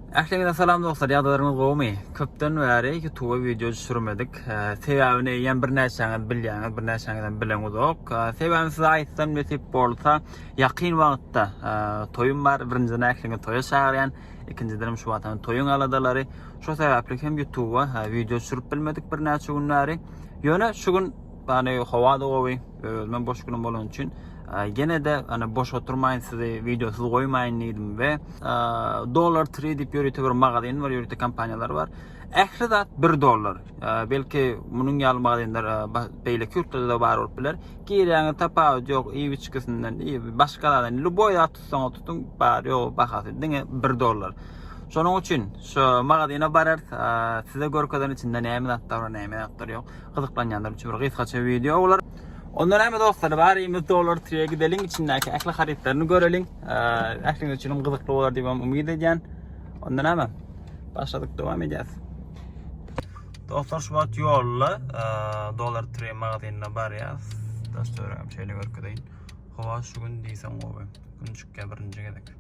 Ähliňize salam dostlar, ýagdaýlaryňyz gowumy? Köpden bäri YouTube wideo düşürmedik. Sebäbini eýýäm birnäçäňiz bilýäňiz, birnäçäňizem bileňizok. Sebäbini size aýtsam nesip bolsa, ýakyn wagtda toýum bar. Birinjiden ähliňi toýa çagyrýan. Ikinjiden şu wagtam toýuň aladalary. Şo sebäpli hem YouTube wideo düşürip bilmedik birnäçe gün bäri. Ýöne şu gün, ýagny howa-da gowy, Özüme boş günüm bolan üçin gene de hani boş oturmayın sizi videosuz koymayın dedim ve dolar trade dip yörüte bir magazin var yörüte kampanyalar var. Ehli zat 1 dolar. Belki bunun yalı magazinler beyle kürtlerde de var olup bilir. Gireyana tapavut yok iyi içkisinden iyi başka zaten. Luboy zat tutsan tutun bar yok bakası dine 1 dolar. Şonuň üçin şu magazine barar size görkezen içinde näme zatlar bar näme zatlar yok. Gyzyklanýanlar üçin bir gysgaça wideo bolar. Onda näme dostlar, baryňyz Dollar Tree-e gideliň, içindäki ähli harytlaryny göreliň. Ähliňiz üçin hem gyzykly bolar diýip hem umyt edýän. Onda näme? Başladyk, dowam edýäs. Dostlar, şu wagt ýolda Dollar Tree magazynyna barýas. Daş töweregem şeýle görkezeýin. Howa şu gün diýseň gowy. Gün çykýar birinji gezek.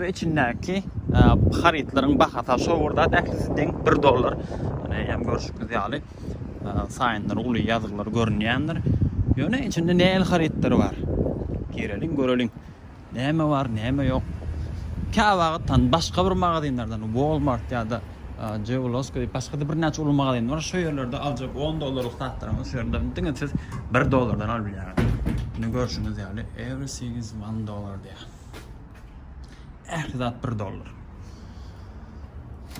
we içindäki harytlaryň bahasy aşa bir zat ählisi deň bir dollar ýöne eýýäm görşüňiz ýaly saýynlar uly ýazgylar görünýändir ýöne içinde nähili harytlar bar gireliň göreliň näme bar näme ýok käwagtdan başga bir magazinlerden walmart ýa-da jewloska diýip başga-da birnäçe uly magazin bar şo ýerlerde aljak on dollarlyk zatlaryňyzy şu ýerden diňe siz bir dollardan alyp bilýäňiz indi görşüňiz ýaly everything is one dollar diýýär. Ähli zat bir dollar.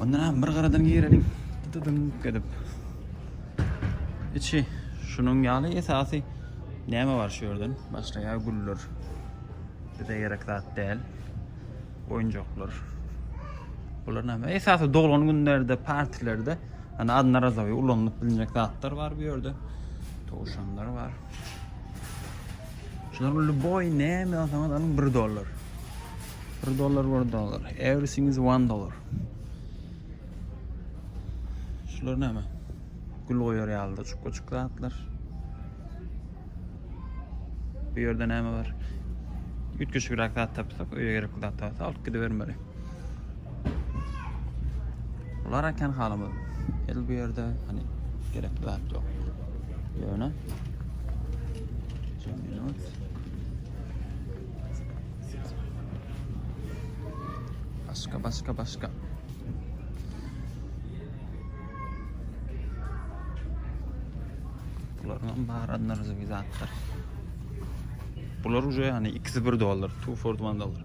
Ondan hem bir garadan gireliň. Dıdıdyn gedip. Içi şunun ýaly esasy näme bar şu ýerden? Başlaýa güller. Bize gerek zat däl. Oýunjaklar. Bular näme? Esasy doglan günlerde, partilerde Ana adına razovi ulanılıp bilinecek zatlar var bu yerde. Tavşanlar var. Şular lüboý näme alsaňyz alyň bir dollar. Bir dollar bir dollar. Everything is one dollar. Şular näme? Gül goýar ýalyda çukka çukka atlar. Bu ýerde näme bar? Üýtgeşik rak zat tapsak, öýe gerekli zat tapsak alyp gidibermeli. Bular eken halymyz. El bu yerde hani gerekli zat yok. Yöne. Şimdi minut. Başka başka başka. Bulardan baharatlarız bir zatlar. Bular уже hani ikisi bir dolar. Two for one dollar.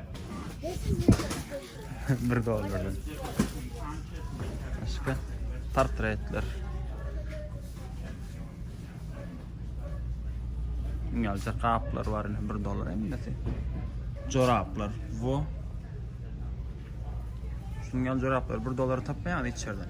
Bir dollardan. Başka portretler. Ýalça kaplar var indi 1 dollar emnesi. Joraplar bu. Şunun ýaly joraplar 1 dollara tapmaýar içerden.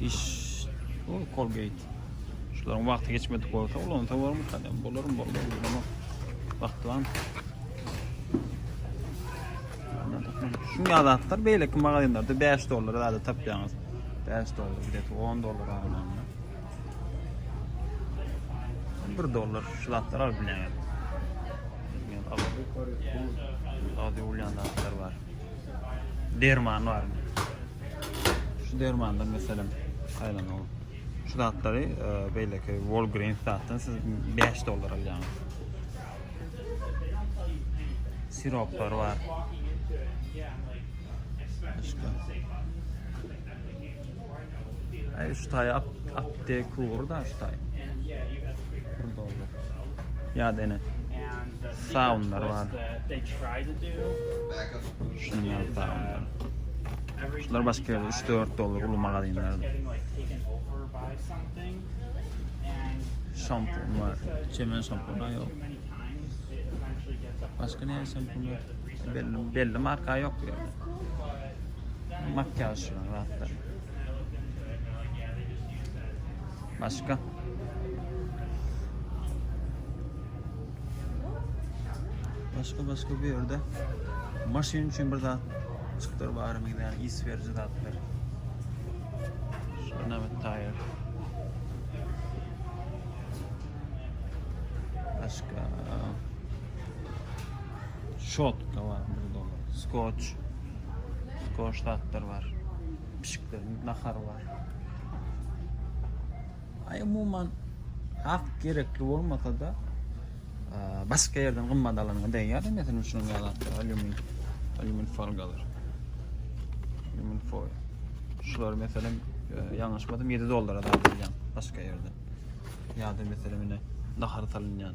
Diş o Colgate. Şularyň wagty geçmedik bolsa ulansa bolarmy? Kadem bolarmy? Bolarmy? Bolarmy? Wagty barmy? Şu ýazatlar beýleki magazinlerde 5 dollara zada tapýaňyz. 5 dollar, bir de 10 dollar almaňyz. 1 dollar şu zatlar alyp bilýäňiz. Hadi ulan var. derman barmy? Şu dermandan meselem aýlan ol. Şu zatlary e, beýleki Walgreens zatdan siz 5 dollar alýaňyz. Siroplar bar. Başga. Ay şu tay ap apte kuğur da şu tay. Burada oldu. Ya dene. Soundlar var. Şunun ya soundlar. Şunlar başka 3-4 dolar ulu magazinler. Şampun var. Çemen şampun yok. Başka ne şampun var? Belli, belli marka yok ya. Makyaj zatlar. Başka. Başka başka bir yerde. Maşin için bir zat çıktır var mı yani is verici zatlar. Şuna bir tire. Başka. Şotka bar 1 dollar. Skoç. Skoç zatlar bar. Pişikleriň nahary bar. Ay umuman hak gerekli olmasa da başka yerden gymmat alanyňa değýär mesela şunuň ýaly alümin alümin folgalar alümin foil şular mesela e, ýalňyşmadym 7 dollara da alýan başka ýerden ýa-da mesela mine nahar salynýan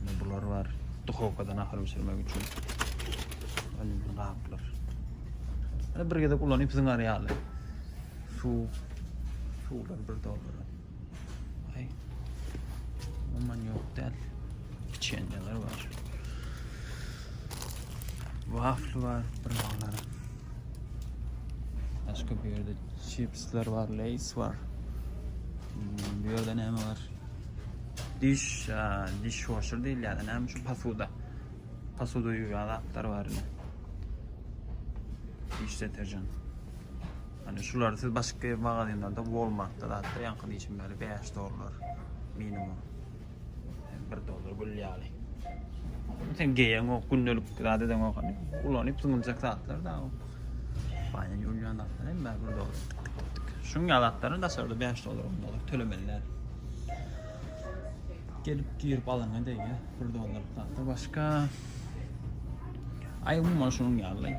Indi bular bar. Duhovkadan ahar bişirmek üçin. Alüminyý gaplar. Indi bir gezek ulanyp zyňar ýaly. Suw. Suwlar bir doldur. Ay. Umuman ýok däl. Içenler bar. Wafl bar, bir mallar. Başka bir yerde chipsler var, lays var. Hmm, bir yerde ne var? Diş, diş washer diýilýär, näme şu posuda. Posuda ýuwýan zatlar bar indi. Diş deterjan. Hani şular siz başka magazinlerde Walmart'ta zatlar yankı diyişim böyle 5 dolar minimum. 1 dolar gül yani. Sen geyen o gündelik zade den o hani ulanıp zıngılacak zatlar da o. Baýan ýulýan zatlar hem bar bir dolar. Tık tık tık tık. Şuň ýaly zatlaryny daşarda 5 dolar 10 dolar tölemelilär. Gelip girip alana deýe 1 dolar zatlar başga. Ay umuman şuň ýaly.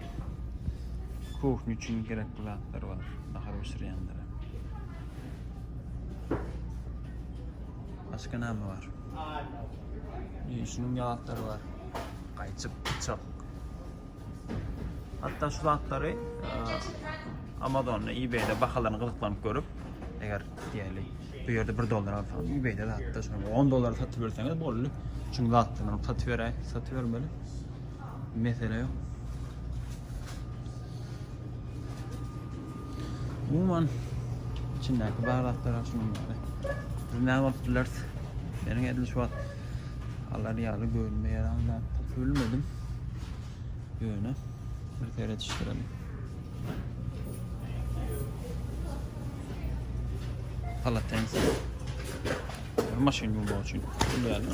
Kuhny üçin gerekli zatlar bar. Nahar bişirýänlere. Başga näme bar? Şuň ýaly zatlar bar. Gaýçyk, bıçak. Hatda şu zatlary Amazonda, eBayda bahalaryny gyzyklanyp görüp, eger diýeli bu ýerde 1 dollar alsaň, eBayda zatda şonuň 10 dollar satyp berseňiz boldy. Çünki zatlaryny satyp beräý, satyp bermeli. Mesele ýok. Umuman içindäki bar zatlar şunuň ýaly. Biz näme bolup bileris? Meniň edil şu wagt alar ýaly görünmeýär anda bilmedim. Ýöne bir seredişdirelim. Palatense. Maşyn ýuwmak üçin. Bilýärmi?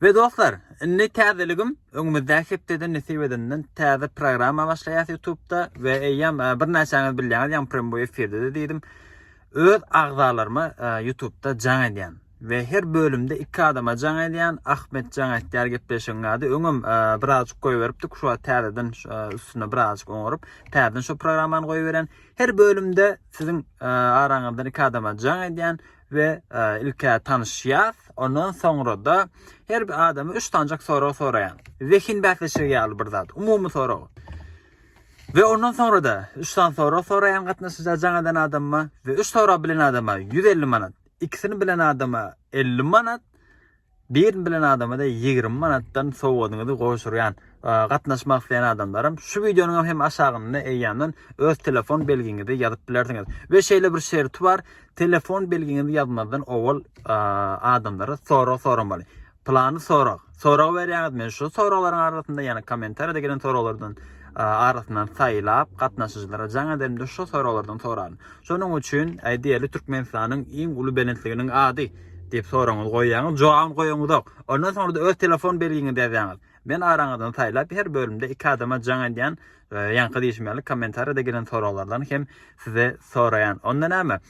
We dostlar indi täzeligim öňümizdäki hepdeden nesip edenden täze programma başlaýas ýutubda we eýýäm birnäçäňiz bilýäňiz ýagny premboý efirdede diýdim öz agzalaryma ýutubda jaň edýän we her bölümde iki adama jaň edýän Ahmet jaň etýär gepleşigiň ady öňem birazjyk goýberipdik şu wagt täzeden üstüne birazjyk oňaryp täzeden şu programmany goýberýän her bölümde siziň araňyzdan iki adama jaň edýän we ilk-ä tanyşýas, ondan soňra-da her bir adama üç sanjak sorag soraýan. Zehin bäsleşigi ýaly bir zat, umumy sorag. We ondan soňra-da üç sany sorag soraýan gatnaşyja jaňadan adama we üç sorag bilen adama ýüz elli manat, ikisini bilen adama elli manat, Birin bilen adama-da ýigrimi manatdan sowgadyňyzy gowşurýan. Gatnaşmak isleýän adamlaram şu wideonyňam hem aşagynda eýýamdan öz telefon belgiňizi ýazyp bilersiňiz. We şeýle bir şerti bar, telefon belgiňizi ýazmazdan owal adamlara sorag soramaly. Pylany sorag, sorag berýäňiz, men şu soraglaryň arasynda, ýagny kommentariýada gelen soraglardan arasyndan saýlap, gatnaşyjylara jaň ederimde şu soraglardan soraryn. Şonuň üçin, aýdaýaly, Türkmenistanyň iň uly belentliginiň ady. Diýip soragyňyzy goýýaňyz, jogabyny goýaňyzok. Ondan soňra-da öz telefon belgiňizi ýazýaňyz. Men araňyzdan saýlap, her bölümde iki adama jaň edýän, ýaňky diýşim ýaly kommentariýada gelen soraglardan hem size soraýan. Onda näme?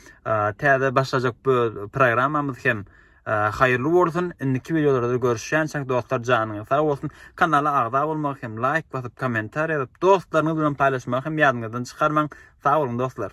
Täze başlajak bu programmamyz hem haýyrly bolsun. Indiki wideolarda görüşýänçäk dostlar janyňyz sag bolsun. Kanala agza bolmagy hem laýk basyp, kommentariýa ýazyp, dostlaryňyz bilen paýlaşmagy hem ýadyňyzdan çykarmaň. Sag boluň dostlar.